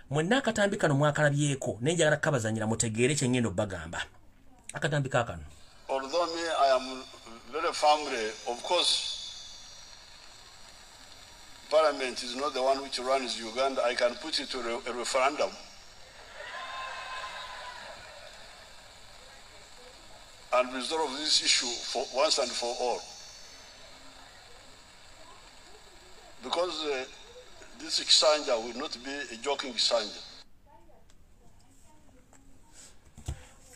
mwenna akatambi kano mwakalabyeko naye njagala kukabazanyira mutegeere kyengenda okubagamba akatambi kakano although me i am very family of course parliament is not the one which runs uganda i can put it to a referendum and resolve this issue for once and for all Because uh, this Kisanja will not be a joking Kisanja.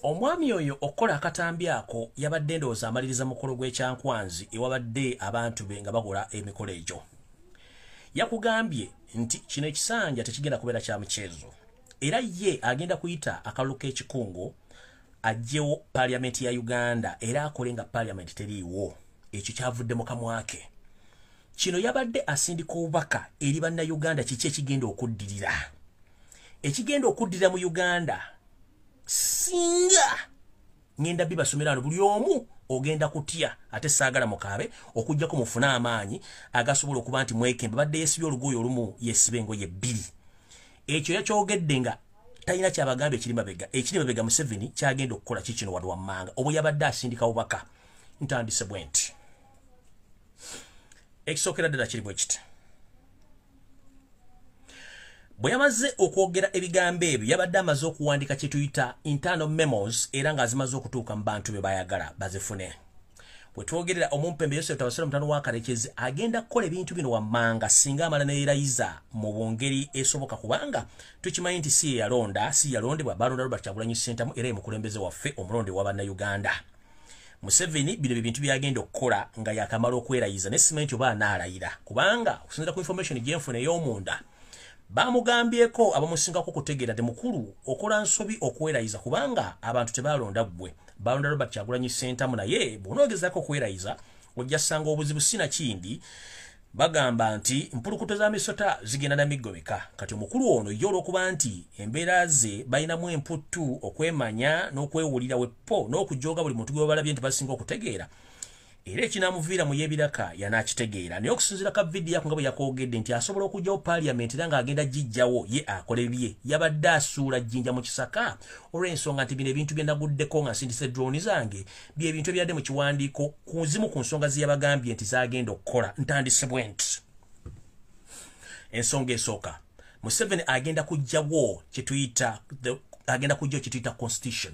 omwami oyo okukola akatambi ako yabadde ndowooza amaliriza mukolo gw'ekyankwanzi ewabadde abantu be nga bakola emikolo egyo yakugambye nti kino ekisanja tekigenda kubeera kya muceezo era ye agenda kuyita akalulu k'ekikungo ajjewo paliamenti ya uganda era akole nga paliamenti teriiwo ekyo kyavudde mu kamwake kino yabadde asindika obubaka eri bannayuganda kiki ekigenda okuddirira ekigenda okuddirira mu uganda singa ngenda bibasomera no buli omu ogenda kutya ate saagala mukaabe okugyako mufune amaanyi agasobola okuba nti mwekembe badde yesiba olugoyo olumu yesiba engoye bbiri ekyo yakyogedde nga talina kyabagamba ekiri mabega ekiri mabega museveni kyagenda okukola kikino wano wammanga obwe yabadde asindika bubaka ntandise bwe nti ekisookera ddala kiri bwe kiti bwe yamaze okwogera ebigambo ebyo yabadde amaze okuwandika kye tuyita internal memos era ng'azimaze okutuuka mu bantu be bayagala bazifune wetwogerera omumpembe yosefu tabasira mutano wa karekezi agenda kukola ebintu bino wammanga singa amala neyerayiza mu bungeri esoboka kubanga tukimanyi nti si yeyalonda si yalondebwa balonda robert kyagulanyi sentamu era emukulembeze waffe omulonde wa bannayuganda museveni bino bibintu byagenda okukola nga yakamala okwerayiza ne simenti oba anaalayira kubanga okusinzira ku information gyenfuna ey'omunda bamugambyeko abamusingako okutegeera ti mukulu okola nsobi okwerayiza kubanga abantu tebaalonda ggwe balonda robert kyagulanyi sentamu naye bwonoogezako okwerayiza ojja sanga obuzibu sina kindi bagamba nti mpulukuto za misota zigenda na miggo mika kati omukulu ono ye olwokuba nti embeera ze balinamu emputtu okwemanya n'okwewulira weppo n'okujooga buli muntu gwebalabye nti basinga okutegeera era ekinamuviira mu yebiraka yanakitegeera naye okusinzira ka vidiyo yako nga bwe yakwogedde nti asobola okugyawo paliament era ng'agenda gijjawo ye akole bye yabadde asuula jjinja mu kisaka olw'ensonga nti bino ebintu byenaguddeko nga nsindisa edroni zange byebintu ebyadde mu kiwandiiko ku zimu ku nsonga zeyabagambye nti zagenda okukola ntandisibwe nti ensonga esooka museveni agenda kujjawo kyetuyita agenda kujjawo kyetuyita constitution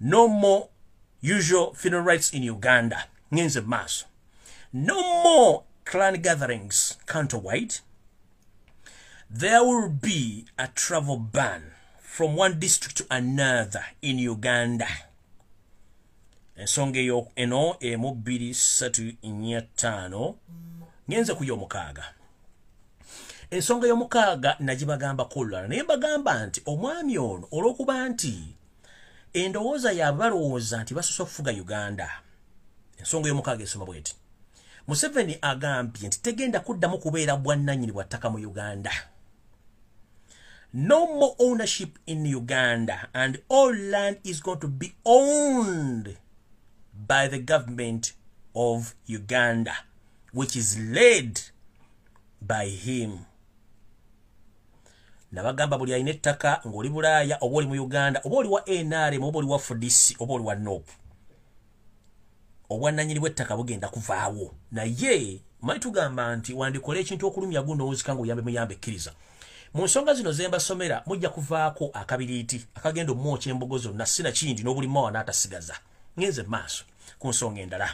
no more usual funeral rights in uganda ngenze maaso no more clan gatherings counterwide there will be a travel ban from one district to another in uganda ensonga eyo eno emu bbiri ssatu nnya ttaano ngenze ku yomukaaga ensonga yomukaaga nagibagambako olulala naye mbagamba nti omwami ono olwokuba nti endowooza yaabwe balowooza nti basosa okufuga uganda ensonga eyomukaaga esoma bweti museveni agambye nti tegenda kuddamu kubeera bwannanyini bwa ttaka mu uganda no more ownership in uganda and all land is going to be owned by the government of uganda which is led by him nabagamba buli alina ettaka ng'oli bulaaya oba oli mu uganda oba oli wa nrm oba oli wa fdc oba oli wa nop obwannanyini bw'ettaka bugenda kuvaawo naye manyi tugamba nti wandikola ekintu okulumya guno owuzika ngaoyambe muyambe ekkiriza mu nsonga zino zembasomera mujja kuvaako akabiriiti akagenda omwoky embogo zonna sinakindi n'obulimawa n'atasigaza ngenze maaso ku nsonga endala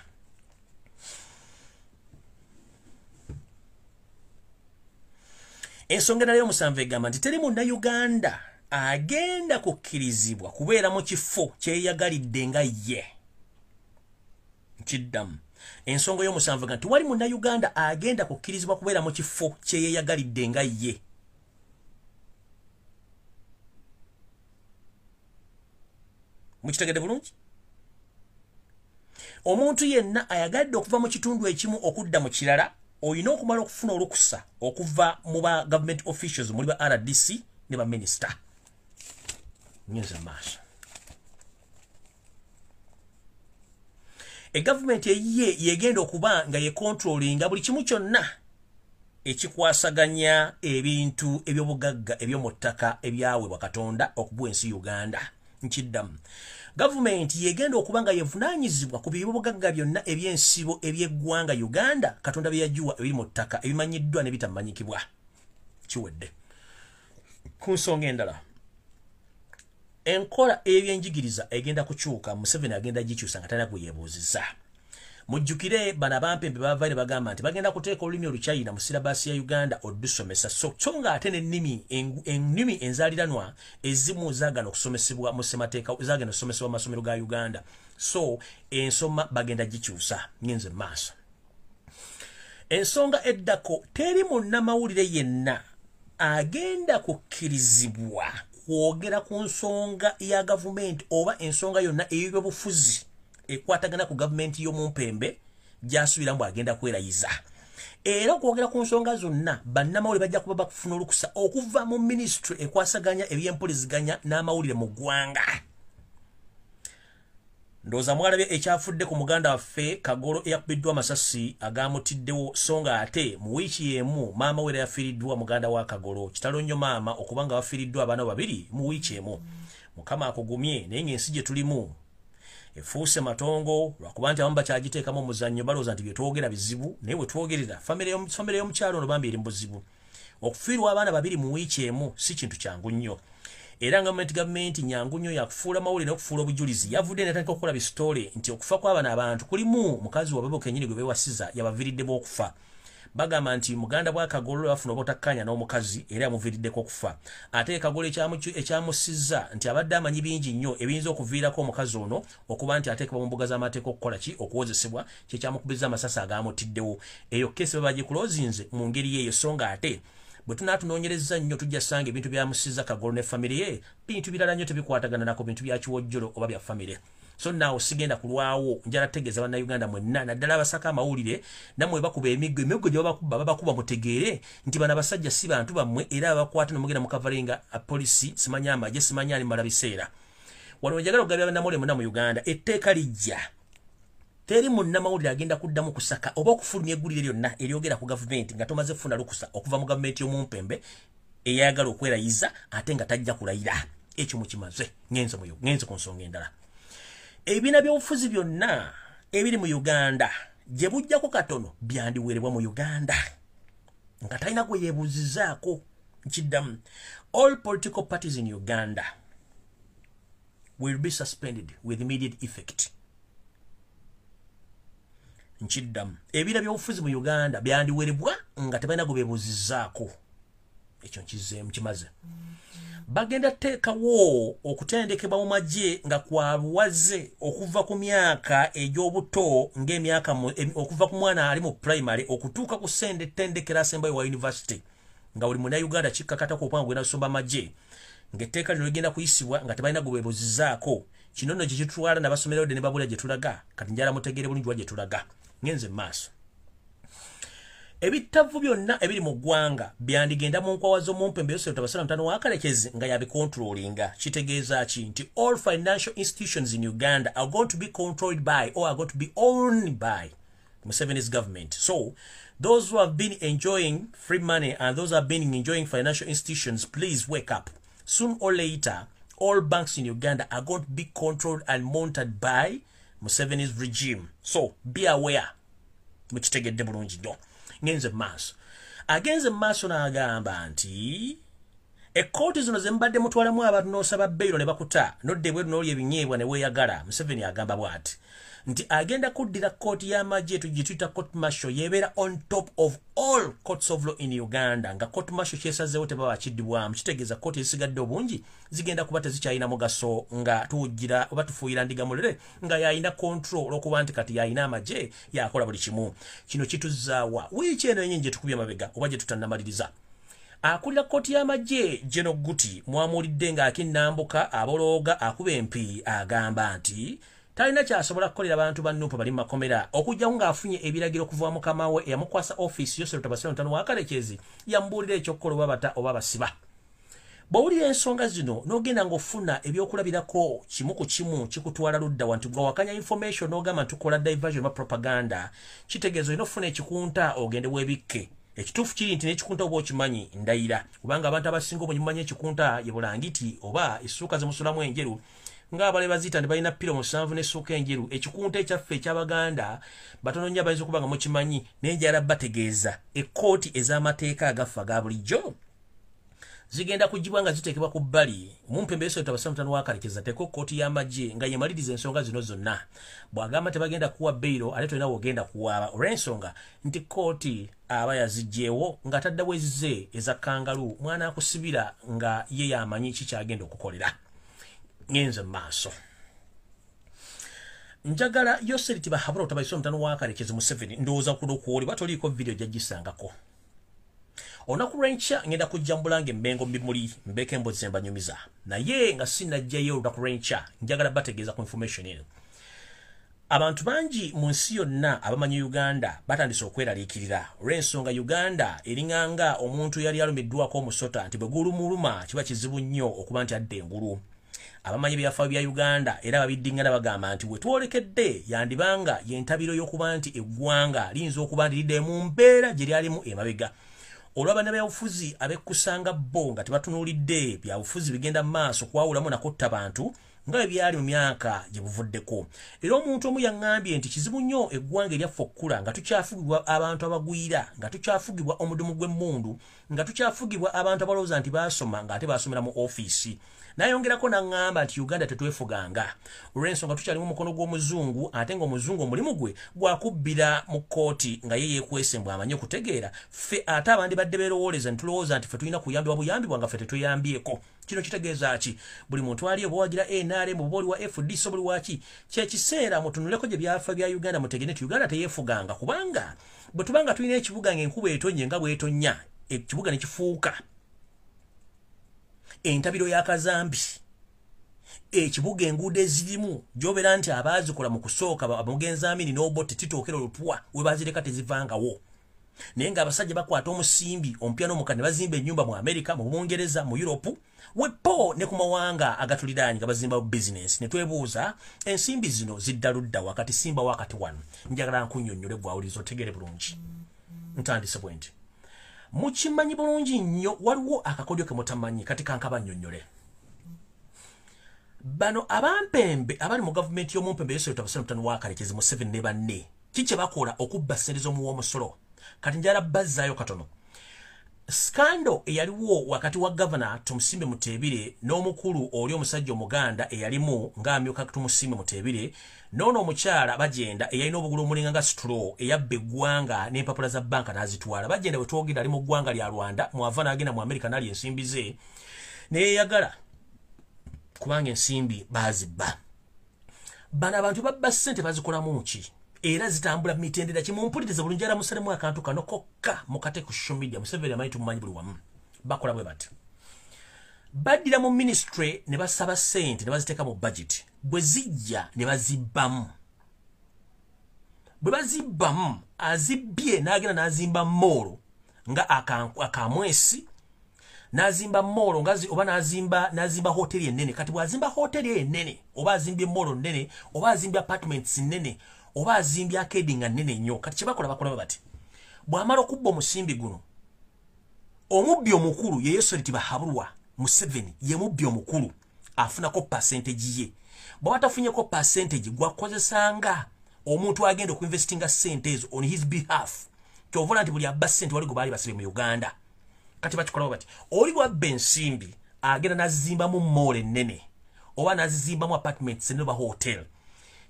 ensonga enala y'omusanvu egamba nti teri munda uganda agenda kukkirizibwa kubeera mu kifo kyeyagalidde nga ye nkiddamu ensonga y'omusanvu ga nti wali munda uganda agenda kukkirizibwa kubeera mu kifo kyeyeyagalidde nga ye mukitegedde bulungi omuntu yenna ayagadde okuva mu kitundu ekimu okudda mu kirala olina okumala okufuna olukusa okuva mu ba government officials muli ba rdc ne baminisita nyinza maaso egavumenti eyiye yegenda okuba nga yekontrolinga buli kimu kyonna ekikwasaganya ebintu ebyobugagga ebyomu ttaka ebyaweebwa katonda okubuwa ensi uganda nkiddamu gavumenti yegenda okuba nga yevunanyizibwa ku byobugagga byonna ebyensibo ebyeggwanga uganda katonda bye yagiwa ebiri mu ttaka ebimanyiddwa ne bitamanyikibwa kiwedde ku nsonga endala enkola ey'ebyenjigiriza egenda kukyuka museveni agenda gikyusa nga talina gweyebuuziza mujjukire bana bampembe bavaire bagamba nti bagenda kuteeka olulimi oluchina mu sirabaasi ya uganda olusomesa so so nga ate nenimi ennimi enzaliranwa ezimu zagana okusomesebwa mu semateeka zagenda okusomesebwa mu masomero ga uganda so ensoma bagenda gikyusa ngenze maaso ensonga eddako teri munnamawulire yenna agenda kukkirizibwa kwogera ku nsonga ya gavumenti oba ensonga yonna ey'ebyobufuzi ekwatagana ku gavumenti y'omumpembe gy'asuubira mbu agenda kwerayiza era okwogera ku nsonga zonna bannamawulire bajja kuba bakufuna olukusa okuva mu minisitule ekwasaganya eby'empuliziganya n'amawulire mu ggwanga ndowooza mwalabye ekyafudde ku muganda waffe kagolo eyakubiddwa amasasi agaamutiddewo so nga ate mu wiiki y'emu maama we era yafiiriddwa muganda wa kagolo kitalo nnyo maama okuba nga bafiiriddwa abaana babiri mu wiiki emu mukama akugumye naye ng'ensi gye tulimu efuuse matongo lwakuba nti abamu bakyagiteekamu omuzannyo balowooza nti bye twogera bizibu naye we twogerera famire y'omukyalo ono bambi eri mu buzibu okufiirwa abaana babiri mu wiiki emu si kintu kyangu nnyo era nga mumenti gavumenti nyangu nnyo yakufuula mawulire n'okufuula obujulizi yavudde netandika okukola bisitoole nti okufa kw'abana abantu kulimu mukazi wababo kenyini gwe bewasiza yabaviriddemu okufa bagamba nti muganda bwa kagolo bafuna obutakkaanya n'omukazi era yamuviriddeko okufa ate kagolo ekyamusiza nti abadde amanyi bingi nnyo ebiyinza okuviirako omukazi ono okuba nti ateekebwa mu mbuga z'amateeka okukola ki okuwozesebwa kyekyamukubiriza amasasi agaamutiddewo eyo keesi baba bagikulozinze mu ngeri yeeyo so nga ate bwe tunaatunoonyereza nnyo tujja sanga ebintu byamusiza kagolo ne famire ye bintu birala nnyo tebikwatagana nako bintu bya kiwojjolo oba bya famire so naawo sigenda kulwawo njala tegeeza bannayuganda mwenna naddala abasaka amawulire namwe bakuba emiggo emiggo gye babakuba babakuba mutegeere nti bano abasajja si bantu bammwe era abakwata nomugenda mukavalinga polisi simanya amagye simanya ali mala biseera waliwo njagala okugabira bannamawulire muna mu uganda etteeka lijja teri munnamawulire agenda kuddamu kusaka oba okufulumya eggulire lyonna eryogera ku gavumenti nga tomaze kufuna lukusa okuva mu gavumenti y'omumpembe eyayagala okwerayiza ate nga tajja kulayira ekyo mukimaze ngenze muyo ngenze ku nsonga endala ebibiina by'obufuzi byonna ebiri mu uganda gye bujjako katono byandiweerebwa mu uganda nga talina gwe yebuuzizaako nkiddamu all political parties in uganda will be suspended with immediate effect nkiddamu ebira byobufuzi mu uganda byandiwerebwa nga tebalina gwe bebuuzizaako ekyo nkizeemu kimaze bagenda teekawo okutendekebwa mu magye nga kwabuwaze okuva ku myaka egy'obuto ng'emyaka okuva ku mwana ali mu primary okutuuka ku sende tendekero asembayo wa univesity nga buli munauganda kikkakatako okubanga gwena kusomba magye ng'etteeka lino ligenda kuyisibwa nga tebalina gwe bebuzizaako kino nno kye kitutwala nabasomerayo de ne babula gye tulaga kati njala mutegeere bulungi wa gye tulaga ngenze mu maaso ebittavu byonna ebiri mu ggwanga byandigenda mu nkwawa z'omumpe mbeyoseeta basala mutano wakalekezi nga yabikontrolinga kitegeeza ki nti all financial institutions in uganda are going to be controlled by or are going to be owned by musevenis government so those who have been enjoying free money and those have been enjoying financial institutions please wake up soon or later all banks in uganda are going to be controlled and monitored by museveni's regime so be aware mukitegedde bulungi nnyo ngenze mu maaso agenze mu maaso n'agamba nti ekkooti zino ze mubadde mutwalamu abantu n'osaba beyiro ne bakuta nodda ebweru n'oli ebinyeebwa ne weeyagala museveni agamba bw'ati nti agenda kuddira kkooti y'amagye etu gye tuyita court marshal yeebeera on top of all courts of law in uganda nga court marshal kyesazeewo tebaba kiddibwamu kitegeeza kkooti ezisigadde obungi zigenda kuba tezikyalina mugaso nga tuwujjira oba tufuuyira ndiga mulere nga yalina control olwokuba nti kati yalina amagye yakola buli kimu kino kituzaawa wiiki eno yenyini gyetukubye mabega oba gyetutanamaliriza akulira kkooti y'amagye geno guti mwamuwulidde ng'akinnambuka abolooga akuba empi agamba nti talina kyasobola kukolera bantu ba nuupu bali mu makomera okugyawo ng'afunye ebiragiro okuva mukama we eyamukwasa ofiisi yoserutabasira mutano wa kalekyezi yamubuulira ekyokukola oba bata oba basiba bwowulira ensonga zino nogenda ngaofuna ebyokulabirako kimu ku kimu kikutwala ludda wa nti gwewakanya information nogamba ntukola diversion ba propaganda kitegeeza olina okufuna ekikunta ogende webikke ekituufu kiri nti nekikunta oba okimanyi ndayira kubanga abantu abasinga obunyumanya ekikunta yebulangiti oba essuuka zemusulamu enjeru ng'abale baziita nti balina piro musanvu n'essuuka enjeru ekikunta ekyaffe eky'abaganda batono nnyo abayinza okuba nga mukimanyi naye njala bategeeza ekkooti ez'amateeka agaffa ga bulijjo zigenda kugibwa nga ziteekebwa ku bbali omumpembeesoeta basamutano wakarekeza teko kooti y'amagye nga yemaliriza ensonga zino zonna bw'agamba tebagenda kuwa beyiro ate tolina wogenda kuwaaba olw'ensonga nti kooti aba yazigyewo nga tadda wezize eza kangalu mwana akusibira nga ye yamanyi ki kyagenda okukolera ngenze mu maaso njagala yoseriti bahabura otabaisa omutano wakarekezi museveni ndowooza kuno kwoli batoliiko vidiyo gyaggisangako olunaku lwenkya ngenda kujjambula nga emmengo mubimuli mbeeko embozi zembanyumiza naye nga sinajjayo olunaku lwenkya njagala bategeeza ku information eno abantu bangi mu nsi yonna abamanyi uganda batandise okweraliikirira olw'ensonga uganda eringanga omuntu yali alumiddwako omusota nti bwe gulumuluma kiba kizibu nnyo okuba nti adda engulu abamanyi ebyafaayo bya uganda era babiddingana bagamba nti wetwolekedde yandibanga yentabiro y'okuba nti eggwanga liyinza okuba nti lidde mu mbeera gye lyalimu emabega olwaba nabyabufuzi abekkusanga bo nga tebatunuulidde byabufuzi bigenda mu maaso kwawulamu nakutta bantu nga bwe byali mu myaka gye buvuddeko era omuntu omu yaŋŋambye nti kizibu nnyo eggwanga eryaffe okukula nga tukyafugibwa abantu abagwira nga tukyafugibwa omudumu gw'emmundu nga tukyafugibwa abantu abalowooza nti baasoma nga ate baasomera mu ofiisi nayongerako naŋŋamba nti uganda tetwefuganga olw'ensonga tukyalimu omukono gw'omuzungu ate ng'omuzungu omulimu gwe gwakubbira mu kkooti nga ye yeekwese mbw amanyi okutegeera ffe ate abandi badde beerowooleza ne tulowooza nti ffe tulina kuyambibwa buyambibwa nga ffe tetweyambyeko kino kitegeeza ki buli muntu ali obuwagira nrm obuba oli wa fdc obuli waki kyekiseera mutunuleko gye byafa bya uganda mutegere nti uganda teyeefuganga kubanga bwe tuba nga tulina ekibuga ng'enkuba etonye nga bwetonya ekibuga ne kifuuka entabiro ya kazambi ekibuga enguudo ezirimu gy'obeera nti abaazikola mu kusooka amugenzi amini n'obotte titookera olutwa we bazireka tezivangawo naye ng'abasajja bakwata omusimbi omupya n'omuka ne bazimba ennyumba mu amerika mu bungereza mu yuropu wepo ne ku mawanga agatuliraanyi nga bazimbawo bizinensi ne twebuuza ensimbi zino zidda ludda wakati simba wakati wano njagala nkunyonnyole gwawuliriza otegeere bulungi ntandise bwe nti mukimanyi bulungi nnyo waliwo akakodyo ke mutamanyi kati kankaba nnyonnyole bano abampembe abali mu gavumenti y'omumpembe yesu yota busana mutano wakalekezi museveni ne banne ki kye bakola okubba ssente z'omuwa omusolo kati njala bazzaayo katono skando eyaliwo wakati wa gavana tumusimbe muteebire n'omukulu oli omusajja omuganda eyalimu ng'amyuka tumusimbe muteebire noono omukyala bagenda eyalina obugulu omulinga nga situlo eyabba eggwanga n'empapula za banka n'azitwala bagenda bwe twogenda ali mu ggwanga lya rwanda mwava n'agenda mu amerika nali ensimbi ze neyeyagala kubanga ensimbi baazibba bano abantu babba ssente bazikolamu muki era zitambula mitendera kimumpuliriza bulungi ara musalemu akantu kano kokka mukate ku social media museveni amanyi tumumanyi buli wamu bakola bwe bati baddira mu ministry ne basaba sente ne baziteeka mu budget bwe zijja ne bazibbamu bwe bazibbamu azibbye n'agenda n'azimba moolo nga akamwesi nazimba molo ngazi oba nazimba nazimba hoteli enene kati bwazimba hoteli enene oba azimbye molo nene oba azimbye apartments nene oba azimbye akedi nga nene nyo kati kyebakola bakola bati bwamala okubba omusimbi guno omubbi omukulu yeyesoliti bahabulwa museveni yemubbi omukulu afunako percentage ye bwaba tafunyeko percentage gwakozesa nga omuntu agenda okuinvestinga sente ezo on his behalf kyovola nti buli abba sente wali gwebaali basibe mu uganda kati bakikolawo bati oli bwabba ensimbi agenda nazimbamu mall ennene oba nazizimbamu apartment sene oba hotel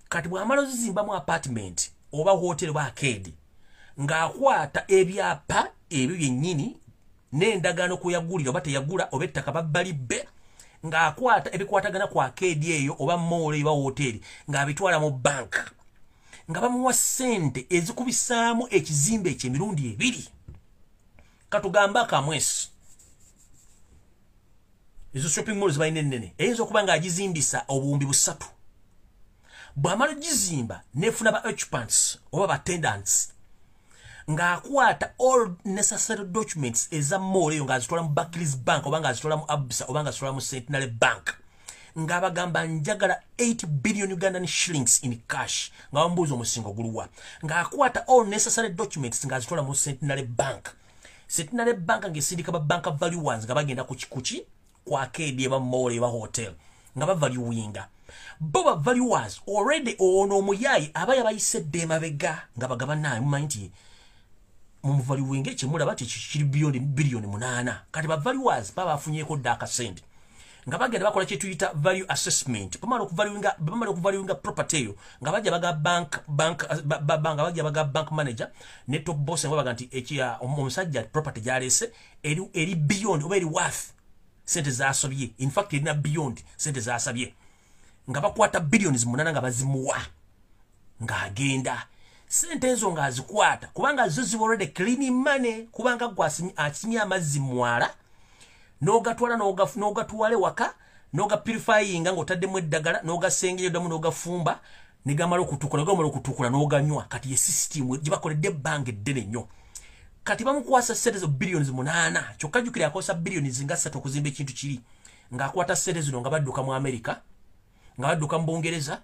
kati bwamala ozizimbamu apartment oba hotel oba akeedi ng'akwata ebyapa ebyo byennyini n'endagaano kwe yagulira oba teyagula oba ettaka babbali bbe ng'akwata ebikwatagana ku akeedi eyo oba moolo eba wooteeri ng'abitwala mu banka nga bamuwa ssente ezikubisaamu ekizimbe ekyo emirundi ebiri katugambe akamwesi ezo shopping mall zibalina ennene eyinza okuba ng'agizimbisa obuwumbi busatu bwamala ogizimba nefuna ba occupants oba batendants ng'akwata all necessary documents eza mool eyo ng'azitwala mu backlis bank oba ng'azitwala mu absa oba ng'azitwala mu centenary bank ng'abagamba njagala 8 billion ugandan shillings in cash nga bamubuuza omusingo guluwa ng'akwata all necessary documents ng'azitwala mu centenary bank centenary bank ng'esindika ba bank valuers nga bagenda kukikuki ku akeedi eba moola eba hotel nga bavalyuwinga bo bavalyuwas already ono omuyaayi aba yabayise dde emabega nga bagabanaye mumanyi nti mumuvalyuwinga ekyemulaba ti kiri biyoni biliyoni munaana kati bavalyuwas baba bafunyeko dde akasente nga bagenda bakola kyetuyita value assessment bamala okuvaluinga bamala okuvaluinga property eyo nga bajja baga bank bank babanga bajja baga bank manager ne top boss nga baga nti ekya omusajja property gyalese eri eri beyond oba eri worth sente zasobye in fact erina beyond sente zasabye nga bakwata billions munana nga bazimuwa nga agenda sente ezo nga azikwata kubanga zo ziba already clean money kubanga gwa asimya amazzi mwala nogatwala nogafuna nogatwale waka noga purifying nga otadde mu eddagala noga sengeyo damu noga fumba negamala okutukula gamala okutukula n'oganywa kati ye sisitiimu gye bakoledde ebbanga eddene nnyo kati bamukwasa ssente zo billions munaana kyokka jjukire akozesa billions nga ssatu okuzimba ekintu kiri ng'akwata ssente zino nga badduka mu amerika nga badduka mu bungereza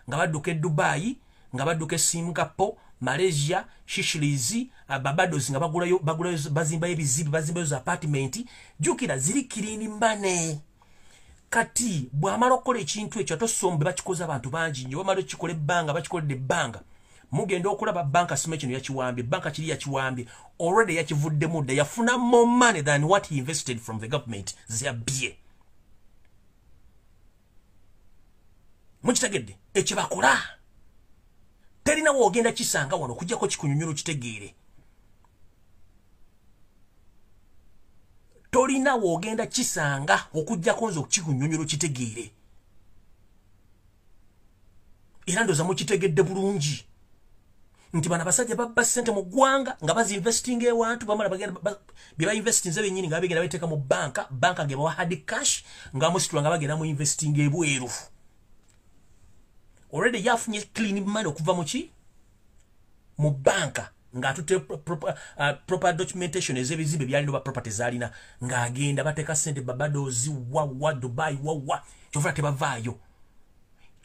nga badduka e dubaayi nga badduka e singapore malaysia shishilizi uh, babados nga bagulayo bagulayo bazimbayo ebizibu bazimbayo za apartment jukira ziri kirini mane kati bwamala okukola ekintu ekyo atosombe bakikoze abantu bangi nyo bamala okikola ebbanga bakikolede ebbanga mugenda okulaba banka sima kino yakiwambye banka kiri yakiwambye already yakivuddemu dda yafuna more money than what he invested from the government zyabbye mukitegedde ekyo bakola terina woogenda kisanga wano okujjako kikunyonyola okitegeere tolina wogenda kisanga okujjako nze okukikunyonyolo kitegeere era ndoza mukitegedde bulungi nti bana basajja babba sente mu ggwanga nga bazi investing ewantu bamala bagenda byeba investinze benyini nga bagenda bateeka mu banka banka ge bawa hard cash nga musitula nga bagenda mu investing ebweru already yafunye clean money okuva mu ki mu banka ng'atute proper, uh, proper documentation ez'ebizimbe byalina oba property zaalina ng'agenda bateeka sente babadozi wawa dubai wawa kyova tebavaayo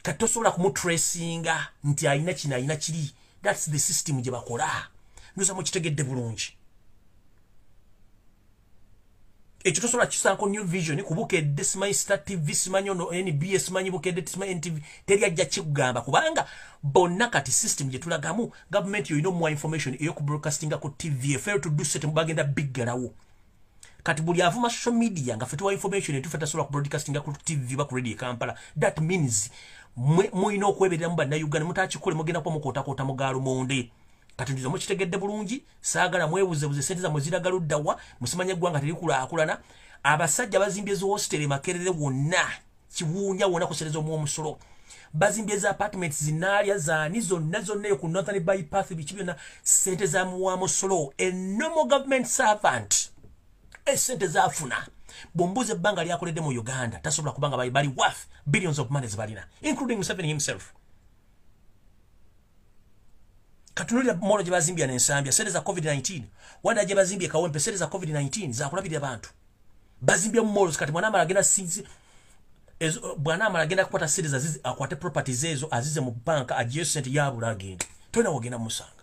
kati tosobola kumutracinga nti alina kino alina kiri thats the system gye bakola nduza mukitegedde bulungi ekyo tosobola kisaako new vision kubukedde simanyi star tv simanyi ono nba simanyi bukedde simanyi ntv teri ajja kikugamba kubanga bonna kati system gye tulagamu gavumenti yolina omuwa information eyoku broadcastinga ku tv efail to do set mubagenda biggalawo kati buli avuma social media nga fetuwa information etufe tasobola ku broadcastinga ku tv ba ku radio e kampala that means mulina okwebereramu bannayuganda mutakikole mugenda kuba mukootakoota mugaalo monde kati njuza mukitegedde bulungi saagala mwebuzebuze sente zamwe ziraga ludda wa musimanya eggwanga terikulakulana abasajja bazimbye zihositeri makerere wonna kiwuunya wona kusereza omu omusolo bazimbye za apartment zinaalya zaani zonna zonna eyo ku northern bypath biki byonna sente zamuwa musolo a normal government servant esente zafuna bwombuuza ebbanga lyakoledde mu uganda tasobola kubanga bali worth billions of money zibalina including museveni himself katunulira molo gye bazimbya nensambya sente za covid-19 wanda gye bazimbye kawempe sente za covid-19 zakulabirira bantu bazimbya mu molo kati mwana amala agenda sinzi bwana amala agenda kukwata sente zazizi akwate properties ezo azize mu banka agiye sente yabula agenda tolina wogenda musanga